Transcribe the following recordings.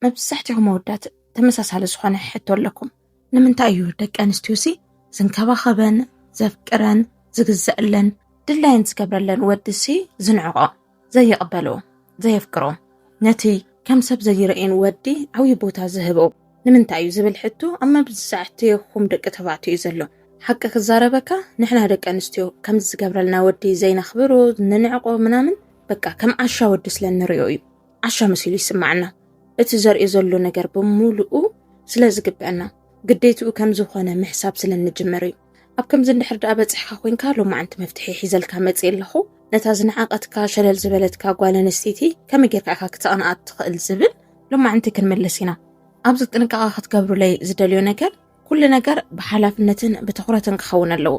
መብዛሕትኹም ኣወዳት ተመሳሳሊ ዝኾነ ሕቶ ኣለኩም። ንምንታይ እዩ ደቂ ኣንስትዮሲ ዝንከባኸበን ዘፍቅረን ዝግዘአለን ድላየን ዝገብረለን ወድሲ ዝንዕቆ ዘይቕበሎ ዘየፍቅሮ ነቲ ከም ሰብ ዘይርእን ወዲ ዓብዪ ቦታ ዝህቦ ንምንታይ እዩ ዝብል ሕቶ ኣብ መብዛሕትኹም ደቂ ተባዕትዮ እዩ ዘሎ። ሓቂ ክዛረበካ ንሕና ደቂ ኣንስትዮ ከም ዝገብረልና ወዲ ዘይነኽብሮ ንንዕቆ ምናምን በቃ ከም ዓሻ ወዲ ስለ እንሪኦ እዩ። ዓሻ መሲሉ ይስማዕና። እቲ ዘርእዮ ዘሎ ነገር ብምሉኡ ስለ ዝግብአና ግዴትኡ ከም ዝኾነ ምሕሳብ ስለ እንጅምር እዩ። ኣብ ከምዚ እንድሕር ደኣ በጺሕካ ኮንካ ሎማዓንቲ መፍትሒ ሒዘልካ መጽእ ኣለኹ ነታ ዝነዓቐትካ ሸለል ዝበለትካ ጓል ኣንስተይቲ ከመይ ጌርካ ኢኻ ክተቕንኣ እትኽእል ዝብል ሎማዓንቲ ክንምልስ ኢና። ኣብዚ ጥንቃቐ ክትገብሩለይ ዝደልዮ ነገር ኩሉ ነገር ብሓላፍነትን ብትኹረትን ክኸውን ኣለዎ።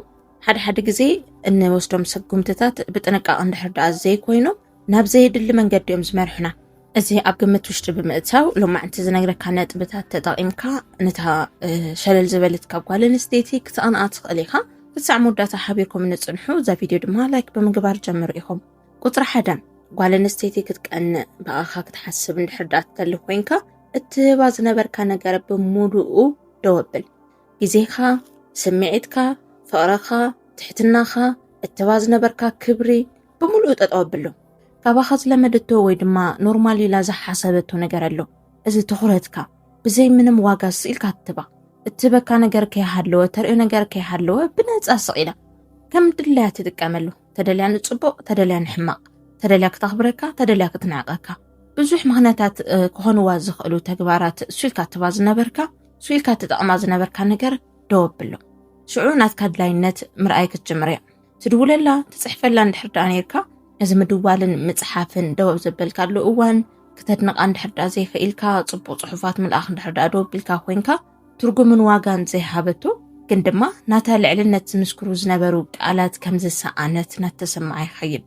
ሓደ ሓደ ግዜ እንወስዶም ስጉምትታት ብጥንቃቐ እንድሕር ደኣ ዘይኮይኑ ናብ ዘየድሊ መንገዲ እዮም ዝመርሑና። እዚ ኣብ ግምት ውሽጢ ብምእታው ሎማዕንቲ ዝነግረካ ነጥብታት ተጠቒምካ ነታ ሸለል ዝበለት ካብ ጓል ኣንስተይቲ ክትቐንኣ ትኽእል ኢኻ። ክሳዕ መወዳእታ ሓቢርኩም ንፅንሑ። እዛ ቪድዮ ድማ ላይክ ብምግባር ጀምሩ ኢኹም። ቁፅሪ ሓደ ጓል ኣንስተይቲ ክትቀንእ ብኣኻ ክትሓስብ እንድሕር ደኣ ትደሊ ኮይንካ እትህባ ዝነበርካ ነገር ብምሉኡ ደው ኣብል ግዜኻ ስምዒትካ ፍቕርኻ ትሕትናኻ እትህባ ዝነበርካ ክብሪ ብምሉኡ ጠጠው ኣብሉ ካባኻ ዝለመደቶ ወይ ድማ ኖርማል ኢላ ዝሓሰበቶ ነገር ኣሎ እዚ ትኹረትካ ብዘይ ምንም ዋጋ ስኢልካ ትባ እትህበካ ነገር ከይሃለወ ተርእዮ ነገር ከይሃለወ ብነፃ ስቕ ኢላ ከም ድላያ ትጥቀመሉ ተደልያ ንፅቡቕ ተደልያ ንሕማቕ ተደልያ ክተኽብረካ ተደልያ ክትንዕቀካ ብዙሕ ምኽንያታት ክኾንዋ ዝኽእሉ ተግባራት ስኢልካ ትባ ዝነበርካ ስኢልካ ትጠቕማ ዝነበርካ ነገር ደው ኣብሎ ሽዑ ናትካ ድላይነት ምርኣይ ክትጅምር እያ ትድውለላ ትፅሕፈላ እንድሕር ደኣ ነርካ እዚ ምድዋልን ምፅሓፍን ደው ኣብ ዘበልካሉ እዋን ክተድንቓ እንድሕር ደኣ ዘይኽኢልካ ፅቡቕ ፅሑፋት ምልኣኽ እንድሕር ደኣ ደው ኣቢልካ ኮንካ ትርጉምን ዋጋን ዘይሃበቶ ግን ድማ ናታ ልዕልነት ዝምስክሩ ዝነበሩ ቃላት ከም ዝሰኣነት ናተሰማዓ ይኸይድ።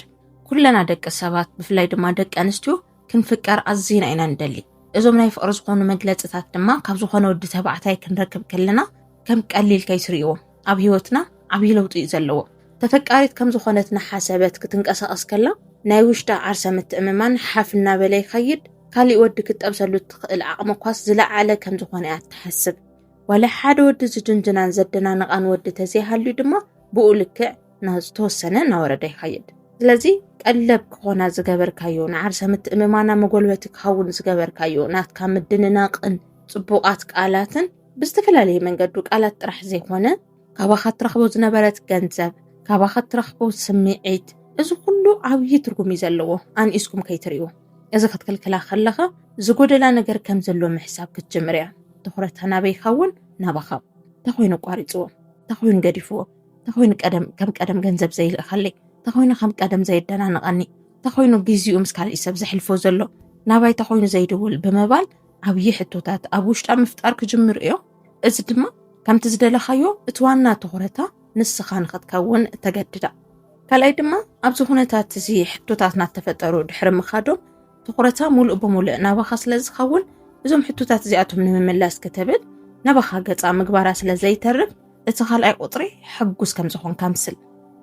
ኩለና ደቂ ሰባት ብፍላይ ድማ ደቂ ኣንስትዮ ክንፍቀር ኣዝና ኢና ንደሊ። እዞም ናይ ፍቕሪ ዝኾኑ መግለፅታት ድማ ካብ ዝኾነ ወዲ ተባዕታይ ክንረክብ ከለና ከም ቀሊል ከይትርእይዎም። ኣብ ህይወትና ዓብዪ ለውጢ እዩ ዘለዎ። ተፈቃሪት ከም ዝኾነት እናሓሰበት ክትንቀሳቐስ ከላ ናይ ውሽጣ ዓርሰ ምትእምማን ሓፍ እናበለ ይኸይድ። ካሊእ ወዲ ክትጠብሰሉ እትኽእል ዓቕሚ እኳስ ዝለዓለ ከም ዝኾነ እያ እትሓስብ። ዋላ ሓደ ወዲ ዝድንድናን ዘደናንቓን ወዲ ተዘይሃልዩ ድማ ብኡ ልክዕ ናብ ዝተወሰነ እናወረደ ይኸይድ። ስለዚ ቀለብ ክኾና ዝገበርካዮ ንዓርሰ ምትእምማና መጎልበቲ ክኸውን ዝገበርካዮ ናትካ ምድንናቕን ጽቡቓት ቃላትን ብዝተፈላለየ መንገዱ ቃላት ጥራሕ ዘይኮነ ካባኻ ትረኽቦ ዝነበረት ገንዘብ ካባኻ ትረኽቦ ስምዒት እዚ ኩሉ ዓብዪ ትርጉም እዩ ዘለዎ ኣንኢስኩም ከይትሪኡ እዚ ክትክልክላ ከለኻ ዝጎደላ ነገር ከም ዘሎ ምሕሳብ ክትጅምር እያ ትኩረታ ናበይካ እውን ናባኻ ተኮይኑ ኣቋሪፅዎ ተኮይኑ ገዲፍዎ ተኮይኑ ቀደም ከም ቀደም ገንዘብ ዘይልእኸለይ ተኮይኑ ከም ቀደም ዘየደናንቐኒ ተኮይኑ ግዜኡ ምስ ካልእ ሰብ ዘሕልፎ ዘሎ ናባይ ተኮይኑ ዘይድውል ብምባል ዓብዪ ሕቶታት ኣብ ውሽጣ ምፍጣር ክጅምሩ እዮም። እዚ ድማ ከምቲ ዝደለኻዮ እቲ ዋና ትኹረታ ንስኻ ንኽትከውን ተገድዳ። ካልኣይ ድማ ኣብዚ ኩነታት እዚ ሕቶታት ናተፈጠሩ ድሕሪ ምኻዶም ትኹረታ ሙሉእ ብምሉእ ናባኻ ስለ ዝኸውን እዞም ሕቶታት እዚኣቶም ንምምላስ ክትብል ናባኻ ገፃ ምግባራ ስለ ዘይተርፍ እቲ ካልኣይ ቁፅሪ ሕጉስ ከም ዝኾንካ ምስል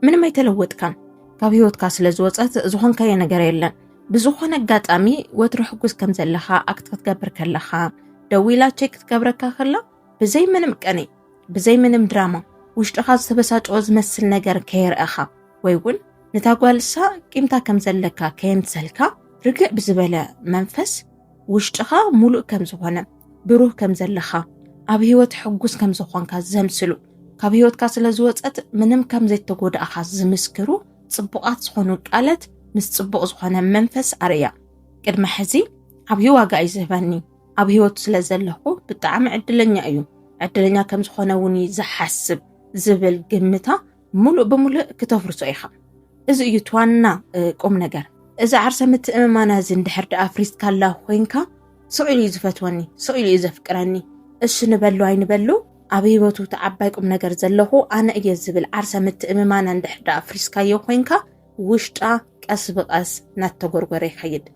ምንም ኣይተለወጥካን ካብ ህይወትካ ስለ ዝወፀት ዝኾንካዮ ነገር የለን ብዝኾነ ኣጋጣሚ ወትሮ ሕጉስ ከም ዘለኻ ኣክት ክትገብር ከለኻ ደዊላ ቼክ ክትገብረካ ከላ ብዘይ ምንም ቀኒ ብዘይ ምንም ድራማ ውሽጥኻ ዝተበሳጨወ ዝመስል ነገር ከየርእኻ ወይ እውን ነታ ጓልሳ ቂምታ ከም ዘለካ ከየምሰልካ ርግዕ ብዝበለ መንፈስ ውሽጥኻ ሙሉእ ከም ዝኾነ ብሩህ ከም ዘለኻ ኣብ ህይወት ሕጉስ ከም ዝኾንካ ዘምስሉ ካብ ህይወትካ ስለ ዝወፀት ምንም ከም ዘይተጎዳእኻ ዝምስክሩ ፅቡቓት ዝኾኑ ቃለት ምስ ፅቡቕ ዝኾነ መንፈስ ኣርእያ ቅድመ ሕዚ ዓብዪ ዋጋ እዩ ዝህበኒ ኣብ ህይወት ስለ ዘለኹ ብጣዕሚ ዕድለኛ እዩ ዕድለኛ ከም ዝኾነ እውን እዩ ዝሓስብ ዝብል ግምታ ሙሉእ ብሙሉእ ክተፍርሶ ኢኻ እዚ እዩ ትዋና ቁም ነገር እዚ ዓርሰ ምትእምማና እዚ እንድሕር ድኣ ኣፍሪስካላ ኮይንካ ስቕ ኢሉ እዩ ዝፈትወኒ ስቕ ኢሉ እዩ ዘፍቅረኒ እሱ ንበሉ ኣይንበሉ ኣብ ህይወቱ እቲ ዓባይ ቁም ነገር ዘለኹ ኣነ እየ ዝብል ዓርሰ ምትእምማና እንድሕር ድኣ ኣፍሪስካዮ ኮይንካ ውሽጣ ቀስ ብቀስ እናተጎርጎረ ይኸይድ።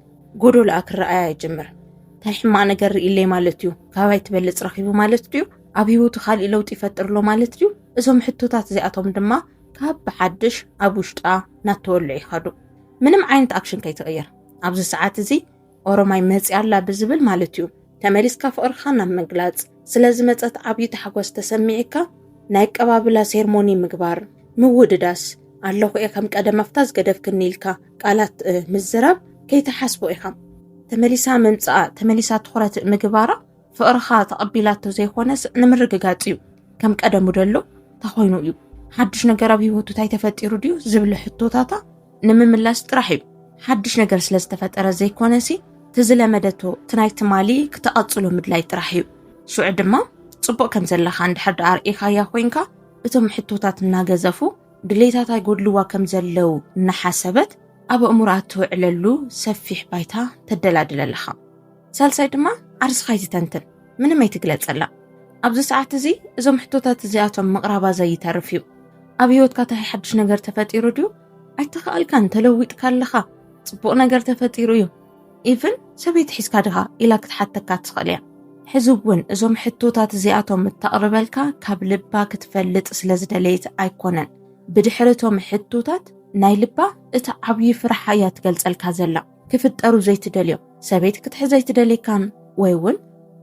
ጎዶልኣ ክረኣያ ይጅምር። እንታይ ሕማቅ ነገር ርኢለይ ማለት እዩ ካባይ ትበልፅ ረኪቡ ማለት ድዩ ኣብ ሂወቱ ካሊእ ለውጢ ይፈጥር ኣሎ ማለት ድዩ እዞም ሕቶታት እዚኣቶም ድማ ካብ ብሓድሽ ኣብ ውሽጣ እናተወልዑ ይኸዱ ምንም ዓይነት ኣክሽን ከይትቕይር ኣብዚ ሰዓት እዚ ኦሮማይ መፅያ ኣላ ብዝብል ማለት እዩ ተመሊስካ ፍቕርኻ ናብ ምግላፅ ስለ ዝመፀት ዓብዪ ታሕጓስ ተሰሚዕካ ናይ ኣቀባብላ ሴርሞኒ ምግባር ምውድዳስ ኣለኹ እየ ከም ቀደም ኣፍታ ዝገደፍክኒ ኢልካ ቃላት ምዝራብ ከይተሓስቦ ኢኻ ተመሊሳ ምምፃኣ ተመሊሳ ትኹረት ምግባራ ፍቕርኻ ተቐቢላቶ ዘይኮነስ ንምርግጋፅ እዩ ከም ቀደሙ ደሎ ታኾይኑ እዩ ሓዱሽ ነገር ኣብ ሂወቱ እንታይ ተፈጢሩ ድዩ ዝብለ ሕቶታታ ንምምላስ ጥራሕ እዩ ሓዱሽ ነገር ስለ ዝተፈጠረ ዘይኮነሲ ትዝለመደቶ ትናይ ትማሊ ክተቐፅሎ ምድላይ ጥራሕ እዩ ሽዑ ድማ ፅቡቕ ከም ዘለካ እንድሕር ዳኣ ርእኻያ ኮይንካ እቶም ሕቶታት እናገዘፉ ድሌታት ኣይጎድልዋ ከም ዘለው እናሓሰበት ኣብ እእምሮኣ ትውዕለሉ ሰፊሕ ባይታ ተደላድለለኻ ሳልሳይ ድማ ዓርስኻ ኣይትተንትን፣ ምንም ኣይትግለጸላ። ኣብዚ ሰዓት እዚ እዞም ሕቶታት እዚኣቶም ምቕራባ ዘይተርፍ እዩ። ኣብ ህይወትካ እንታይ ሓድሽ ነገር ተፈጢሩ ድዩ? ኣይተኸኣልካን፣ ተለዊጥካ ኣለኻ፣ ጽቡቕ ነገር ተፈጢሩ እዩ። ኢቭን ሰበይቲ ሒዝካ ድኻ ኢላ ክትሓተካ ትኽእል እያ። ሕዚ እውን እዞም ሕቶታት እዚኣቶም እተቕርበልካ ካብ ልባ ክትፈልጥ ስለ ዝደለየት ኣይኮነን። ብድሕሪ እቶም ሕቶታት ናይ ልባ እቲ ዓብዪ ፍርሓ እያ ትገልጸልካ ዘላ። ክፍጠሩ ዘይትደልዮም ሰበይቲ ክትሕዝ ኣይትደልየካን ወይ እውን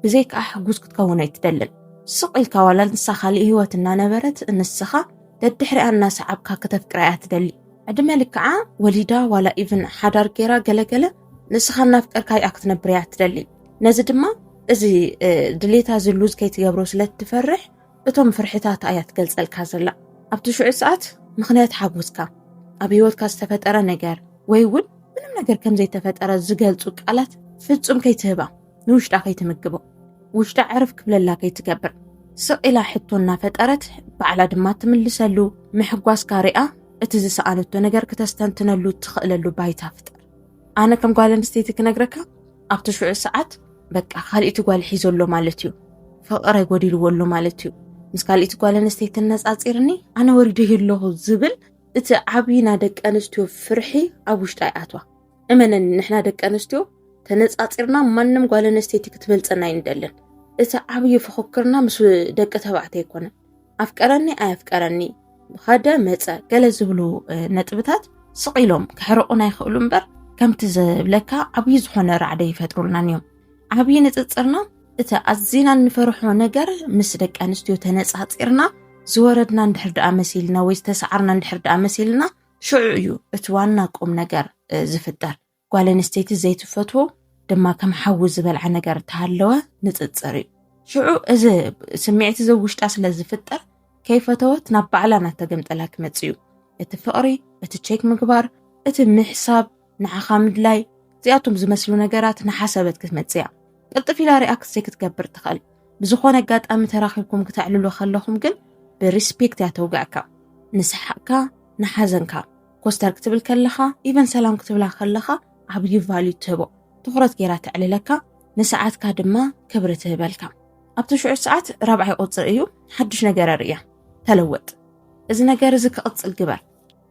ብዘይካኣ ሕጉዝ ክትከውን ኣይትደልን ስቕ ኢልካ ዋላ ንሳ ካልእ ህይወት እናነበረት እንስኻ ደድሕሪኣ እናሰዓብካ ከተፍቅራ እያ ትደሊ ዕድመ ልክዓ ወሊዳ ዋላ ኢቭን ሓዳር ገይራ ገለገለ ንስኻ እናፍቀርካ እያ ክትነብር እያ ትደሊ ነዚ ድማ እዚ ድሌታ ዝሉዝ ከይትገብሮ ስለ እትፈርሕ እቶም ፍርሕታት ኣያ ትገልጸልካ ዘላ ኣብቲ ሽዑ ሰዓት ምክንያት ሓጎስካ ኣብ ህይወትካ ዝተፈጠረ ነገር ወይ እውን ምንም ነገር ከም ዘይተፈጠረ ዝገልጹ ቃላት ፍጹም ከይትህባ ንውሽጣ ከይትምግቦ ውሽጣ ዕርፍ ክብለላ ከይትገብር ስቕ ኢላ ሕቶ እናፈጠረት ባዕላ ድማ ትምልሰሉ ምሕጓስካ ሪኣ እቲ ዝሰኣነቶ ነገር ክተስተንትነሉ ትኽእለሉ ባይታ ፍጠር ኣነ ከም ጓል ኣንስተይቲ ክነግረካ ኣብቲ ሽዑ ሰዓት በቃ ካልእቲ ጓል ሒዞ ኣሎ ማለት እዩ ፍቕረ ጎዲልዎ ኣሎ ማለት እዩ ምስ ካልእቲ ጓል ኣንስተይቲ ነፃፂርኒ ኣነ ወሪደ ኣለኹ ዝብል እቲ ዓብዪ ናይ ደቂ ኣንስትዮ ፍርሒ ኣብ ውሽጢ ኣይኣትዋ እመነኒ ንሕና ደቂ ኣንስትዮ ተነፃፂርና ማንም ጓል ኣንስተይቲ ክትበልፀና ይንደልን እቲ ዓብዪ ፍኽክርና ምስ ደቂ ተባዕትዮ ኣይኮነን ኣፍቀረኒ ኣየፍቀረኒ ብኸደ መፀ ገለ ዝብሉ ነጥብታት ስቕ ኢሎም ክሕርቑና ይኽእሉ እምበር ከምቲ ዝብለካ ዓብዪ ዝኾነ ራዕደ ይፈጥሩልናን እዮም ዓብዪ ንፅፅርና እቲ ኣዝና እንፈርሖ ነገር ምስ ደቂ ኣንስትዮ ተነፃፂርና ዝወረድና እንድሕር ደኣ መሲልና ወይ ዝተሰዓርና እንድሕር ደኣ መሲልና ሽዑ እዩ እቲ ዋና ቁም ነገር ዝፍጠር ጓል ኣንስተይቲ ዘይትፈትዎ ድማ ከም ሓዊ ዝበልዓ ነገር ተሃለወ ንፅፅር እዩ ሽዑ እዚ ስምዒት እዚ ውሽጣ ስለ ዝፍጠር ከይፈተወት ናብ ባዕላ ናተገምጠላ ክመፅ እዩ እቲ ፍቕሪ እቲ ቼክ ምግባር እቲ ምሕሳብ ንዓኻ ምድላይ እዚኣቶም ዝመስሉ ነገራት ንሓሰበት ክትመፅ እያ ቅልጥፍ ኢላ ሪኣክት ዘይክትገብር ትኽእል ብዝኾነ ኣጋጣሚ ተራኺብኩም ክተዕልሉ ከለኹም ግን ብሪስፔክት እያ ተውግዕካ ንስሓቅካ ንሓዘንካ ኮስተር ክትብል ከለኻ ኢቨን ሰላም ክትብላ ከለኻ ዓብዪ ቫልዩ ትህቦ ትኹረት ገይራ ተዕልለካ ንሰዓትካ ድማ ክብሪ ትህበልካ ኣብቲ ሽዑ ሰዓት ራብዓይ ቁፅሪ እዩ ሓዱሽ ነገር ኣርእያ ተለወጥ እዚ ነገር እዚ ክቕፅል ግበር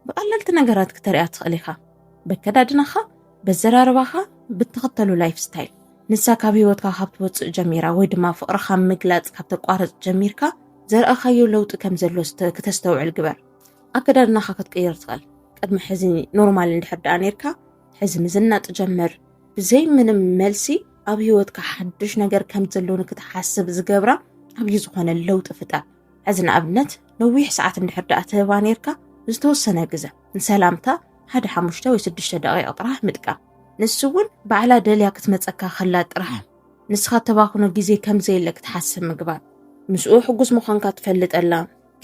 ብቐለልቲ ነገራት ክተርያ ትኽእል ኢኻ በከዳድናኻ በዘራርባኻ ብትኽተሉ ላይፍ ስታይል ንሳ ካብ ህይወትካ ካብ ትወፅእ ጀሚራ ወይ ድማ ፍቕርኻ ምግላፅ ካብ ተቋረፅ ጀሚርካ ዘርእኻዮ ለውጢ ከም ዘሎ ክተስተውዕል ግበር ኣከዳድናኻ ክትቅይር ትኽእል ቅድሚ ሕዚ ኖርማል እንድሕር ደኣ ነርካ ሕዚ ምዝናጥ ጀምር ብዘይ ምንም መልሲ ኣብ ህይወትካ ሓድሽ ነገር ከም ዘሎ ንክትሓስብ ዝገብራ ኣብዩ ዝኾነ ለውጢ ፍጠር ሕዚ ንኣብነት ነዊሕ ሰዓት እንድሕር ደኣ ትህባ ነርካ ዝተወሰነ ግዘ ንሰላምታ ሓደ ሓሙሽተ ወይ ስድሽተ ደቂቕ ጥራሕ ምጥቃም ንሱ እውን ባዕላ ደልያ ክትመፀካ ከላ ጥራሕ ንስኻ ተባኽኖ ግዜ ከምዘየለ ክትሓስብ ምግባር ምስኡ ሕጉስ ምዃንካ ትፈልጠላ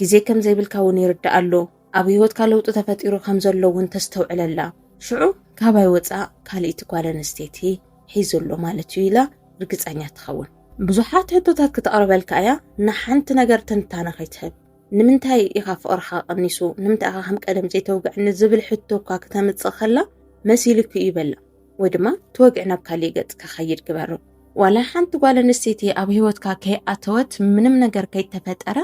ግዜ ከም ዘይብልካ እውን ይርድኣሉ። ኣብ ህይወትካ ለውጢ ተፈጢሩ ከም ዘሎ እውን ተስተውዕለላ። ሽዑ ካባይ ወፃእ ካልእቲ ጓል ኣንስተይቲ ሒዙ ኣሎ ማለት እዩ ኢላ ርግፀኛ ትኸውን። ብዙሓት ሕቶታት ክተቕርበልካ እያ፣ ንሓንቲ ነገር ትንታነ ከይትህብ። ንምንታይ ኢኻ ፍቕርኻ ቀኒሱ፣ ንምንታይ ኢኻ ከም ቀደም ዘይተውግዐኒ ዝብል ሕቶ እኳ ክተምፅእ ከላ መሲሉኪ እዩ በላ። ወይ ድማ ተወግዕ ናብ ካሊእ ገፅ ከኸይድ ግበሮ። ዋላ ሓንቲ ጓል ኣንስተይቲ ኣብ ህይወትካ ከይኣተወት ምንም ነገር ከይተፈጠረ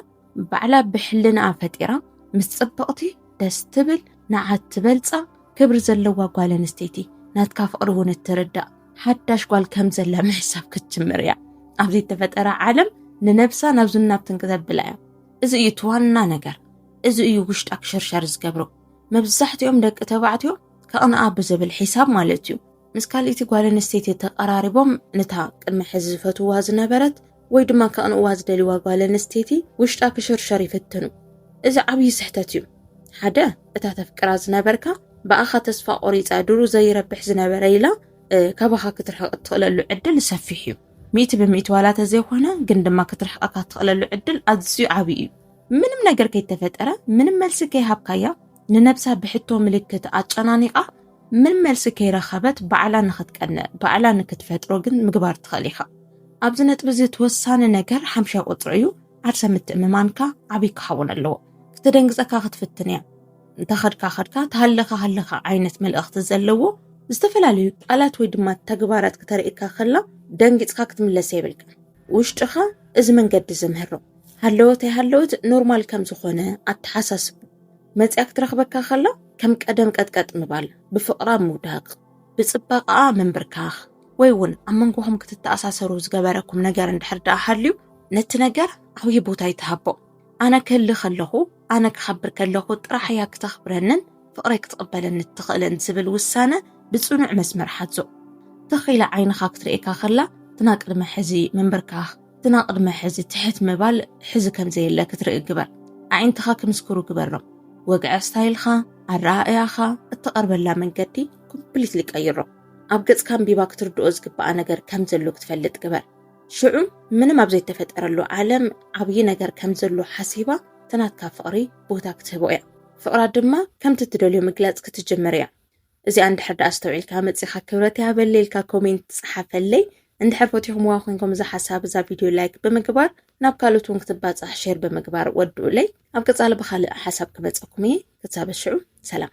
ባዕላ ብሕልናኣ ፈጢራ ምስ ፅብቕቲ ደስ ትብል ንዓት ትበልፃ ክብሪ ዘለዋ ጓል ኣንስተይቲ ናትካ ፍቕሪ እውን እትርዳእ ሓዳሽ ጓል ከም ዘላ ምሕሳብ ክትጅምር እያ። ኣብዚ እተፈጠረ ዓለም ንነብሳ ናብ ዝናብትን ክተብላ እያ እዚ እዩ እቲ ዋና ነገር እዚ እዩ ውሽጣ ክሽርሸር ዝገብሮ መብዛሕትኦም ደቂ ተባዕትዮ ከቕንኣ ብዝብል ሒሳብ ማለት እዩ ምስ ካልእቲ ጓል ኣንስተይቲ ተቀራሪቦም ነታ ቅድሚ ሕዚ ዝፈትዋ ዝነበረት ወይ ድማ ከቕንእዋ ዝደልዋ ጓል ኣንስተይቲ ውሽጣ ክሽርሸር ይፍትኑ እዚ ዓብዪ ስሕተት እዩ ሓደ እታ ተፍቅራ ዝነበርካ ብኣኻ ተስፋ ቆሪፃ ድሩ ዘይረብሕ ዝነበረ ኢላ ካባኻ ክትርሕቕ እትኽእለሉ ዕድል ሰፊሕ እዩ ሚእቲ ብሚእቲ ዋላ ተዘይኮነ ግን ድማ ክትርሕቐካ እትኽእለሉ ዕድል ኣዝዩ ዓብዪ እዩ ምንም ነገር ከይተፈጠረ ምንም መልሲ ከይሃብካያ ንነብሳ ብሕቶ ምልክት ኣጨናኒቓ ምን መልሲ ከይረኸበት ባዕላ ንክትቀንእ ባዕላ ንክትፈጥሮ ግን ምግባር ትኽእል ኢኻ። ኣብዚ ነጥቢ እዚ እቲ ወሳኒ ነገር ሓምሻይ ቁጽሪ እዩ፣ ዓርሰ ምትእምማንካ ዓብይ ክኸውን ኣለዎ። ክትደንግጸካ ክትፍትን እያ። እንተኸድካ ኸድካ ተሃለኻ ሃለኻ ዓይነት መልእኽቲ ዘለዎ ዝተፈላለዩ ቃላት ወይ ድማ ተግባራት ክተርእየካ ከላ ደንጊጽካ ክትምለስ የብልካን። ውሽጥኻ እዚ መንገዲ እዚ ምህሮ ሃለወት ኣይሃለወት ኖርማል ከም ዝኾነ ኣተሓሳስቦ። መጺኣ ክትረኽበካ ከላ ከም ቀደም ቀጥቀጥ ምባል፣ ብፍቕራ ምውዳቕ፣ ብጽባቐኣ ምንብርካኽ ወይ እውን ኣብ መንጎኹም ክትተኣሳሰሩ ዝገበረኩም ነገር እንድሕር ደኣ ሃልዩ ነቲ ነገር ዓብዪ ቦታ ይትሃቦ። ኣነ ክህሊ ከለኹ፣ ኣነ ክኸብር ከለኹ ጥራሕ እያ ክተኽብረንን ፍቕረይ ክትቕበለኒ እትኽእልን ዝብል ውሳነ ብጽኑዕ መስመር ሓዞ። ትኽ ኢላ ዓይንኻ ክትርእየካ ከላ እቲ ናይ ቅድሚ ሕዚ ምንብርካኽ፣ ግና ቅድመ ሕዚ ትሕት ምባል ሕዚ ከምዘየለ ክትርኢ ግበር። ኣዒንትኻ ክምስክሩ ግበሮም። ወግዐ ስታይልኻ፣ ኣረኣእያኻ፣ እትቐርበላ መንገዲ ኮምፕሊትሊ ቀይሮ። ኣብ ገጽካ ኣንቢባ ክትርድኦ ዝግብኣ ነገር ከምዘሎ ክትፈልጥ ግበር። ሽዑ ምንም ኣብ ዘይተፈጠረሉ ዓለም ዓብዪ ነገር ከምዘሎ ሓሲባ እቲ ናትካ ፍቕሪ ቦታ ክትህቦ እያ። ፍቕራ ድማ ከምቲ እትደልዮ ምግላጽ ክትጅምር እያ። እዚኣ እንድሕር ደኣ ኣስተውዒልካ መጺኻ ክብረት ያበለ ኢልካ ኮሜንት ጸሓፈለይ እንድሕር ፈቲኹምዋ ኮይንኩም እዛ ሓሳብ እዛ ቪድዮ ላይክ ብምግባር ናብ ካልኦት እውን ክትባጻሕ ሼር ብምግባር ወድኡለይ ኣብ ቀጻሊ ብኻልእ ሓሳብ ክመጸኩም እየ ክሳብ ሽዑ ሰላም